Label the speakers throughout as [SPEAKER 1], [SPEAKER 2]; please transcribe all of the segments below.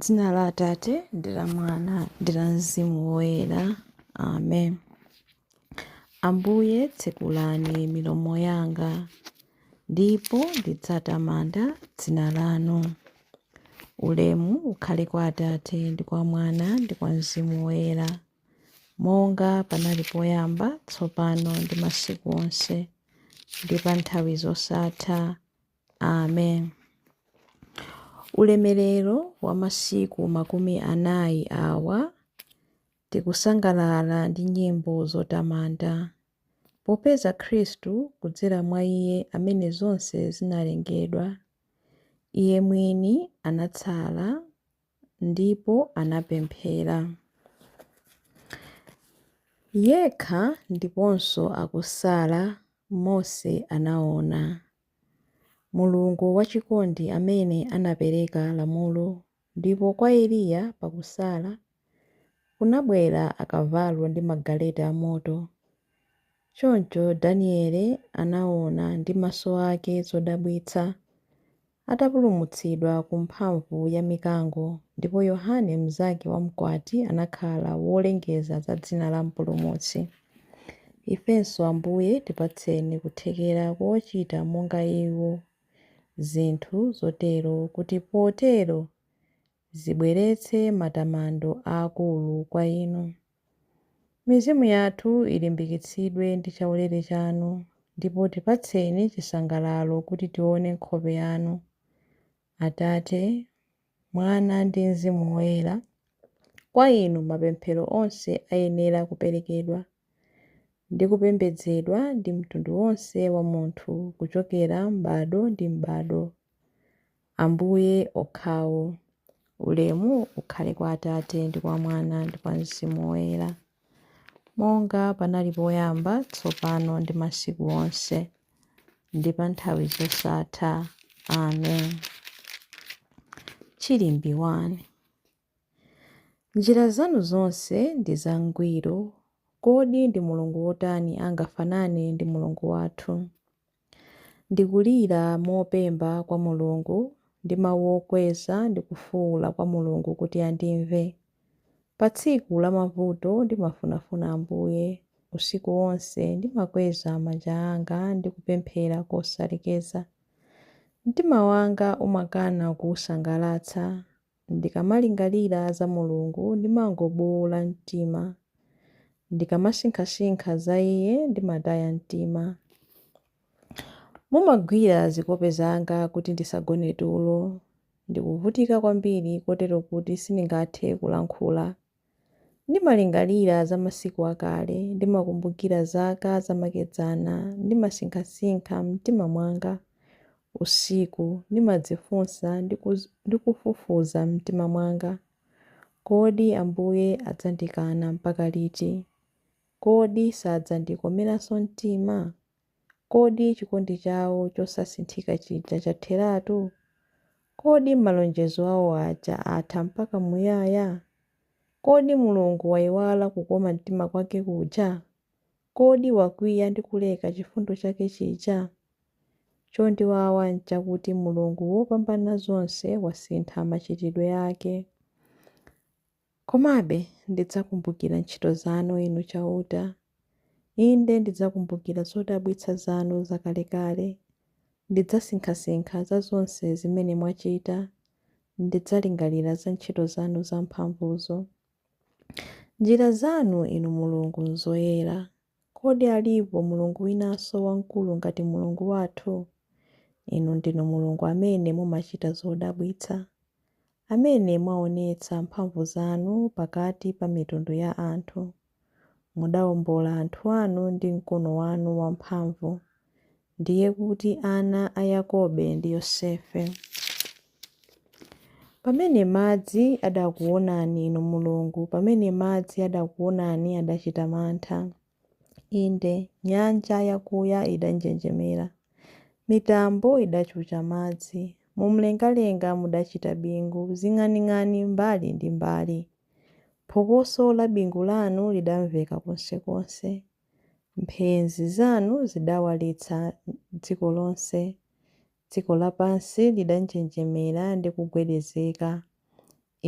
[SPEAKER 1] Dzina la Atate ndi la Mwana ndi la Mzimu Woyera. Amen. Ambuye tsekulani milomo yanga ndipo ndidzatamanda dzina lanu. Ulemu ukhale kwa Atate ndi kwa Mwana ndi kwa Mzimu Woyera, monga panali poyamba, tsopano ndi masiku onse, ndi pa nthawi zosatha. Amen. Ulemerero wa masiku makumi anayi awa tikusangalala ndi nyimbo zotamanda, popeza Khristu kudzera mwa Iye amene zonse zinalengedwa, Iye mwini anasala ndipo anapemphera. Yekha ndiponso akusala Mose anaona. Mulungu wachikondi amene anapereka lamulo ndipo kwa Eliya pakusala, kunabwera akavalo ndi magaleta a moto. Choncho Daniele anaona ndi maso ake zodabwitsa atapulumutsidwa ku mphamvu ya mikango ndipo Yohane mnzake wa mkwati anakhala wolengeza za dzina la Mpulumutsi. Ifenso, Ambuye, tipatseni kuthekera kochita monga iwo zinthu zotero kuti potero zibweretse matamando aakulu kwa inu. Mizimu yathu ilimbikitsidwe ndi chaulere chanu, ndipo tipatseni chisangalalo kuti tione nkhope yanu. Atate, Mwana, ndi Mzimu Woyera, kwa Inu mapemphero onse ayenera kuperekedwa, ndi kupembedzedwa ndi mtundu wonse wa munthu kuchokera m'bado ndi m'bado. Ambuye okhawo. Ulemu ukhale kwa Atate, ndi kwa Mwana, ndi kwa Mzimu Woyera. Monga panali poyamba, tsopano, ndi masiku onse, ndi pa nthawi zosatha. Amen. Chilimbi 1 Njira zanu zonse ndi zangwiro. Kodi ndi Mulungu wotani angafanane ndi Mulungu wathu? Ndikulira mopemba kwa Mulungu ndi mawu okweza ndikufuwula kwa Mulungu kuti andimve. Pa tsiku la mavuto ndimafunafuna Ambuye, usiku wonse ndimakweza manja anga ndi kupemphera kosalekeza. Mtima wanga umakana kuusangalatsa, Ndikamalingalira za Mulungu ndimangobuula mtima. Ndikamasinkhasinkha za iye ndimataya mtima. Mumagwira zikope zanga kuti ndisagone tulo. Ndikuvutika kwambiri kotero kuti sindingathe kulankhula. Ndimalingalira za masiku akale, ndimakumbukira zaka zamakedzana, ndimasinkhasinkha m'mtima mwanga usiku, ndimadzifunsa ndi kufufuza m'mtima mwanga, Kodi Ambuye adzandikana mpaka liti? Kodi sadzandikomeranso mtima? Kodi chikondi chawo chosasinthika chija chatheratu? Kodi malonjezo awo aja atha mpaka muyaya? Kodi Mulungu waiwala kukoma mtima kwake kuja? Kodi wakwiya ndi kuleka chifundo chake chija? Chondiwawa n'chakuti Mulungu Wopambanazonse wasintha machitidwe ake. Komabe ndidzakumbukira ntchito zanu, Inu Chauta. Inde, ndidzakumbukira zodabwitsa zanu zakalekale. Ndidzasinkhasinkha za zonse zimene mwachita, ndidzalingalira za ntchito zanu zamphamvuzo. Njira zanu, Inu Mulungu, nzoyera, Kodi alipo Mulungu winanso wamkulu ngati Mulungu wathu? Inu ndinu Mulungu amene mumachita zodabwitsa, amene mwaonetsa mphamvu zanu pakati pa mitundu ya anthu. Mudawombola anthu anu ndi mkono wanu wamphamvu, ndiye kuti ana a Yakobe ndi Yosefe. Pamene madzi adakuwonani, Inu Mulungu, pamene madzi adakuwonani adachita mantha. Inde, nyanja yakuya idanjenjemera. Mitambo idachucha madzi. Mumlengalenga mudachita bingu, zing'aning'ani mbali ndi mbali. Phokoso la bingu lanu lidamveka konsekonse. Mphenzi zanu zidawalitsa dziko lonse, dziko lapansi lidanjenjemera ndi kugwedezeka.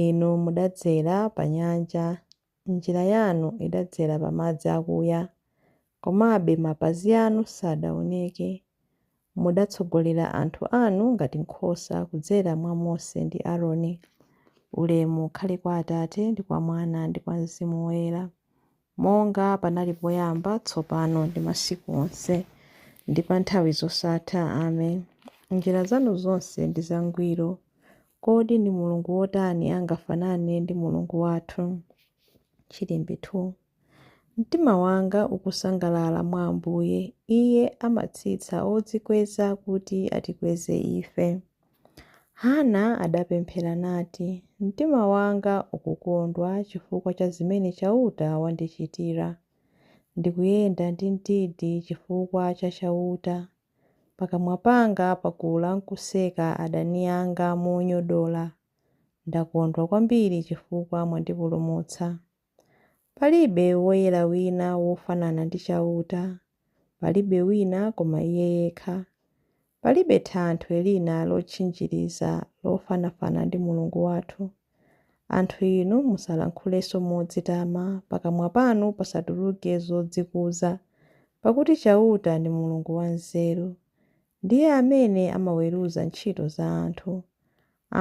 [SPEAKER 1] Inu mudadzera pa nyanja, njira yanu idadzera pa madzi akuya, komabe mapazi anu sadaoneke. Mudatsogolera anthu anu ngati nkhosa kudzera mwa Mose ndi Aroni. Ulemu ukhale kwa Atate, ndi kwa Mwana, ndi kwa Mzimu Woyera, monga panali poyamba, tsopano ndi masiku onse, ndi pa nthawi zosatha. Amen. Njira zanu zonse ndi zangwiro. Kodi ndi Mulungu wotani angafanane ndi Mulungu wathu? Chilimbi 2. Mtima wanga ukusangalala mwa Ambuye, Iye amatsitsa odzikweza kuti atikweze ife. Hana adapemphera nati, Mtima wanga ukukondwa chifukwa cha zimene Chauta wandichitira. Ndikuyenda ndi mdidi chifukwa cha Chauta. Pakamwa panga pakula nkuseka adani anga monyodola. Ndakondwa kwambiri chifukwa mwandipulumutsa. Palibe woyera wina wofanana ndi Chauta, palibe wina koma Iye yekha. Palibe thanthwe lina lotchinjiriza lofanafana ndi Mulungu wathu. Anthu inu musalankhulenso modzitama, pakamwa panu pasatuluke zodzikuza, pakuti Chauta ndi Mulungu wanzeru, Ndiye amene amaweruza ntchito za anthu.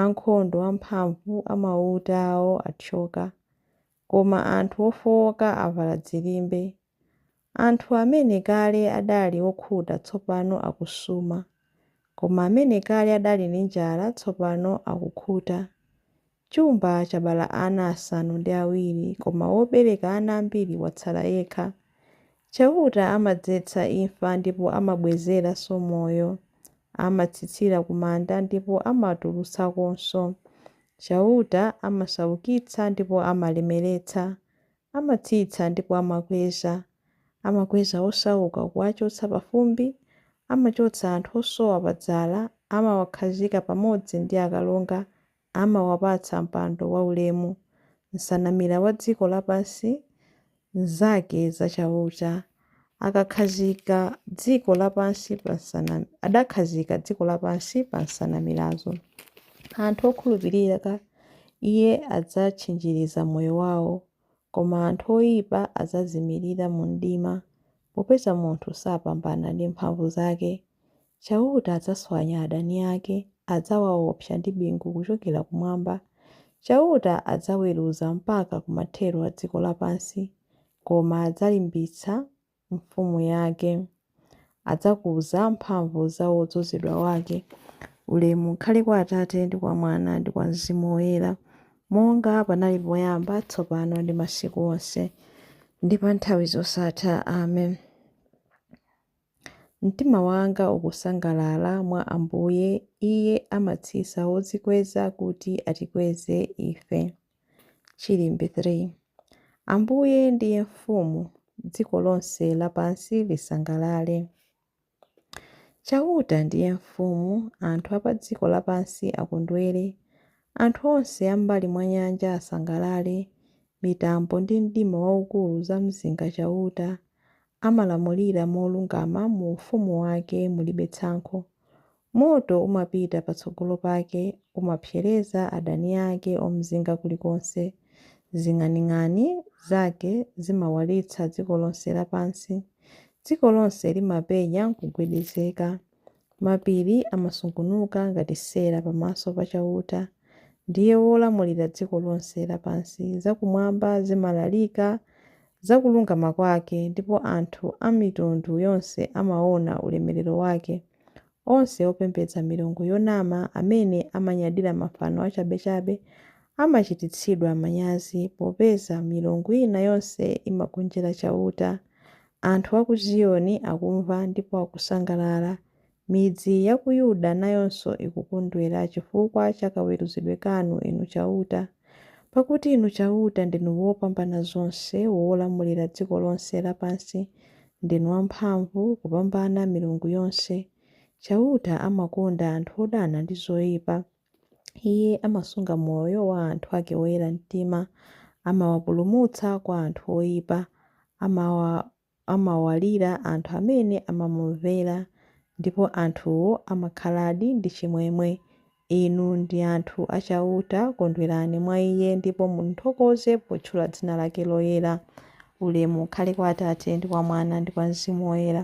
[SPEAKER 1] Ankhondo amphamvu a mauta awo athyoka, koma anthu ofowoka avala dzilimbe. Anthu amene kale adali okhuta tsopano akusuma, koma amene kale adali ndi njala tsopano akukhuta. Chumba chabala ana asanu ndi awiri, koma wobereka ana ambiri watsala yekha. Chauta amadzetsa imfa ndipo amabwezeranso moyo. Amatsitsira ku manda ndipo amatulutsakonso. Chauta amasaukitsa ndipo amalemeretsa. Amatsitsa ndipo amakweza. Amakweza osauka kuwachotsa pa fumbi, Amachotsa anthu osowa pa dzala, amawakhazika pamodzi ndi akalonga. amawapatsa mpando waulemu, nsanamira wa dziko lapansi nzake za Chauta, akakhazika dziko lapansi pa nsana, adakhazika dziko lapansi pa nsanamirazo. Anthu okhulupirika Iye adzatchinjiriza moyo wao, koma anthu oipa adzazimirira mu mdima, popeza munthu sapambana ndi mphamvu zake. Chauta adzaswanya adani ake, adzawaopsa ndi bingu kuchokera kumwamba. Chauta adzaweruza mpaka ku mathero a dziko lapansi, koma adzalimbitsa mfumu yake. Adzakuza mphamvu za wodzozedwa wake. Ulemu ukhale kwa Atate, ndi kwa Mwana, ndi kwa Mzimu Woyera, monga panali poyamba, tsopano ndi masiku onse, ndi pa nthawi zosatha. Amen. Mtima wanga ukusangalala mwa Ambuye, Iye amatsitsa wodzikweza kuti atikweze ife. Chilimbi 3. Ambuye ndiye mfumu, dziko lonse lapansi lisangalale. Chauta ndiye mfumu, anthu a pa dziko lapansi akondwere. Anthu onse a m'mbali mwa nyanja asangalale, mitambo ndi mdima waukulu zamzinga Chauta. amalamulira molungama mu ufumu wake mulibe tsankho. Moto umapita patsogolo pake, umapsereza adani ake omzinga kulikonse. Zing'aning'ani zake zimawalitsa dziko lonse lapansi, dziko lonse limapenya nkugwedezeka. Mapiri amasungunuka ngati sera pamaso pa Chauta, ndiye wolamulira dziko lonse lapansi. Zakumwamba zimalalika za kulungama kwake, ndipo anthu a mitundu yonse amaona ulemerero wake. Onse opembedza milungu yonama, amene amanyadira mafano achabechabe, amachititsidwa manyazi, popeza milungu ina yonse imagonjera Chauta. Anthu a ku Ziyoni akumva ndipo akusangalala. Midzi ya ku Yuda nayonso ikukondwera chifukwa cha kaweruzidwe kanu, Inu Chauta. Pakuti Inu Chauta ndinu Wopambanazonse, wolamulira dziko lonse lapansi. Ndinu wamphamvu kupambana milungu yonse. Chauta amakonda anthu odana ndi zoipa. Iye amasunga moyo wa anthu ake oyera mtima, amawapulumutsa kwa anthu oipa, amawa, amawalira anthu amene amamumvera, ndipo anthuwo amakhaladi ndi chimwemwe. Inu ndi anthu a Chauta, kondwerani mwa Iye, ndipo mumthokoze potchula dzina lake loyera. Ulemu ukhale kwa Atate, ndi kwa Mwana, ndi kwa Mzimu Woyera.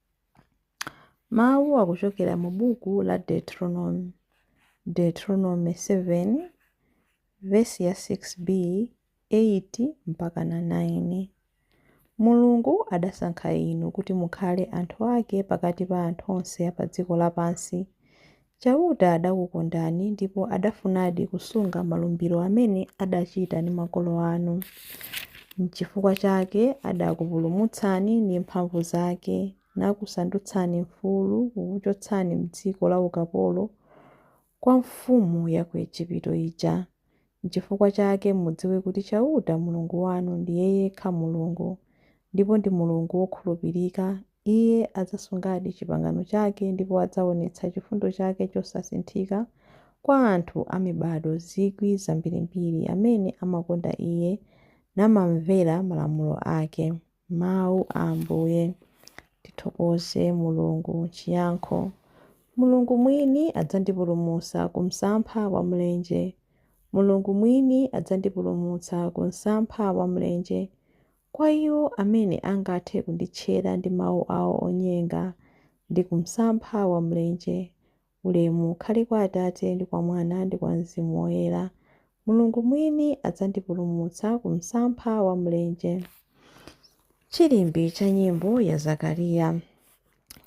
[SPEAKER 1] Mawu akuchokera mu buku la Deuteronomy, Deuteronomy 7, vesi ya 6b, 8 mpaka na 9. Mulungu adasankha inu kuti mukhale anthu ake pakati pa anthu onse a pa dziko lapansi, Chauta adakukondani ndipo adafunadi kusunga malumbiro amene adachita ndi makolo anu. Nchifukwa chake adakupulumutsani ndi mphamvu zake, nakusandutsani mfulu kukuchotsani m'dziko laukapolo kwa mfumu ya ku Ejipito ija. Nchifukwa chake mudziwe kuti Chauta, Mulungu wanu, ndiye yekha Mulungu, ndipo ndi Mulungu wokhulupirika. Iye adzasungadi chipangano chake ndipo adzaonetsa chifundo chake chosasinthika kwa anthu a mibado zikwi zambirimbiri amene amakonda iye namamvera malamulo ake. Mawu a Ambuye. Tithokoze Mulungu. Chiyankho Mulungu mwini adzandipulumutsa ku msampha wa mlenje. Mulungu mwini adzandipulumutsa ku msampha wa mlenje. Kwa iwo amene angathe kunditchera ndi mawu awo onyenga, ndi ku msampha wa mlenje, ulemu ukhale kwa Atate, ndi kwa Mwana, ndi kwa Mzimu Woyera, Mulungu mwini adzandipulumutsa ku msampha wa mlenje. Chilimbi cha nyimbo ya Zakariya.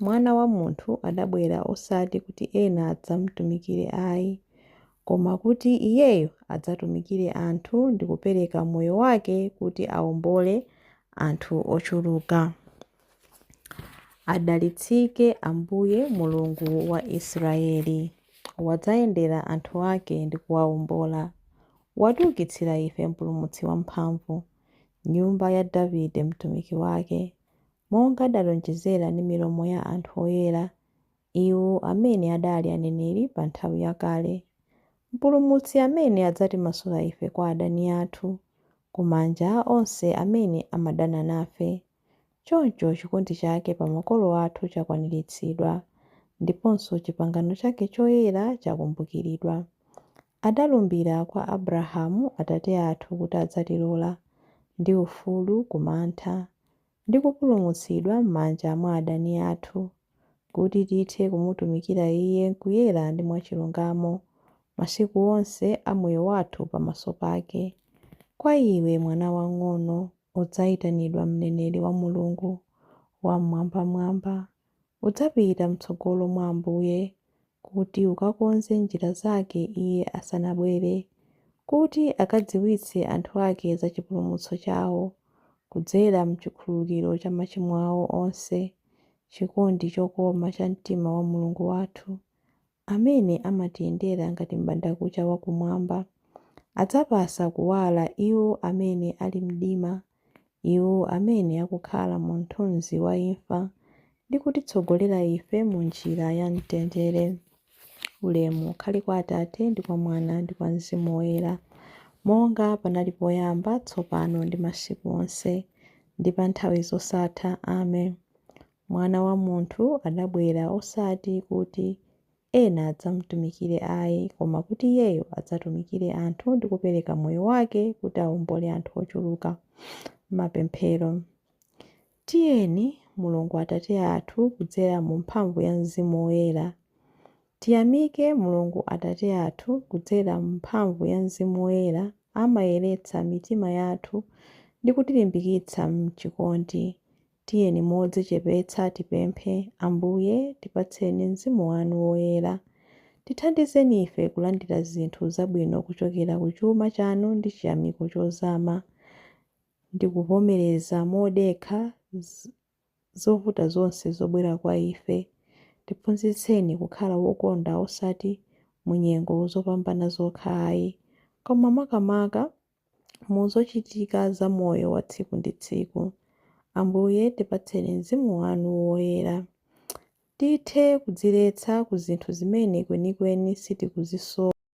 [SPEAKER 1] Mwana wa munthu adabwera osati kuti ena adzamtumikire ayi, koma kuti Iyeyo adzatumikire anthu ndi kupereka moyo wake kuti aombole anthu ochuluka. Adalitsike Ambuye, Mulungu wa Israyeli, wadzayendera anthu ake ndi kuwaombola. Watiukitsira ife Mpulumutsi wamphamvu, nyumba ya Davide mtumiki wake, monga adalonjezera ndi milomo ya anthu oyera, iwo amene adali aneneri pa nthawi yakale, Mpulumutsi amene adzatimasula ife kwa adani athu, ku manja a onse amene amadana nafe. Choncho chikondi chake pa makolo athu chakwaniritsidwa, ndiponso chipangano chake choyera chakumbukiridwa. Adalumbira kwa Abrahamu atate athu kuti adzatilola, ndi ufulu ku mantha, ndi kupulumutsidwa m'manja mwa adani athu, kuti tithe kumutumikira Iye kuyera ndi mwachilungamo masiku onse a moyo wathu pamaso pake. Kwa iwe, mwana wang'ono, udzaitanidwa mneneri wa Mulungu Wam'mwambamwamba. Udzapita m'tsogolo mwa Ambuye, kuti ukakonze njira zake Iye asanabwere, kuti akadziwitse anthu ake za chipulumutso chawo, kudzera m'chikhululukiro cha machimo awo onse, chikondi chokoma cha mtima wa Mulungu wathu. amene amatiyendera ngati m'bandakucha wa kumwamba. Adzapasa kuwala iwo amene ali m'mdima, iwo amene akukhala mu mthunzi wa imfa, ndi kutitsogolera ife mu njira ya mtendere. Ulemu ukhale kwa Atate, ndi kwa Mwana, ndi kwa Mzimu Woyera, monga panali poyamba, tsopano, ndi masiku onse, ndi pa nthawi zosatha. Amen. Mwana wa munthu adabwera osati kuti ena adzamtumikire ai, koma kuti Iyeyo adzatumikire anthu ndi kupereka moyo wake kuti aombole anthu ochuluka. Mapemphero. Tiyeni, Mulungu Atate athu kudzera mu mphamvu ya Mzimu Woyera. Tiyamike Mulungu Atate athu kudzera mu mphamvu ya Mzimu Woyera amayeretsa mitima yathu ndi kutilimbikitsa m'chikondi. Tiyeni modzichepetsa tipemphe, Ambuye, tipatseni Mzimu wanu Woyera. Tithandizeni ife kulandira zinthu zabwino kuchokera ku chuma chanu ndi chiyamiko chozama, ndi kuvomereza modekha zovuta zonse zobwera kwa ife. Tiphunzitseni kukhala wokonda osati mu nyengo zopambana zokha ayi, koma makamaka mu zochitika za moyo wa tsiku ndi tsiku. Ambuye, tipatseni Mzimu wanu Woyera. Tithe kudziletsa ku zinthu zimene kwenikweni sitikuzisowa.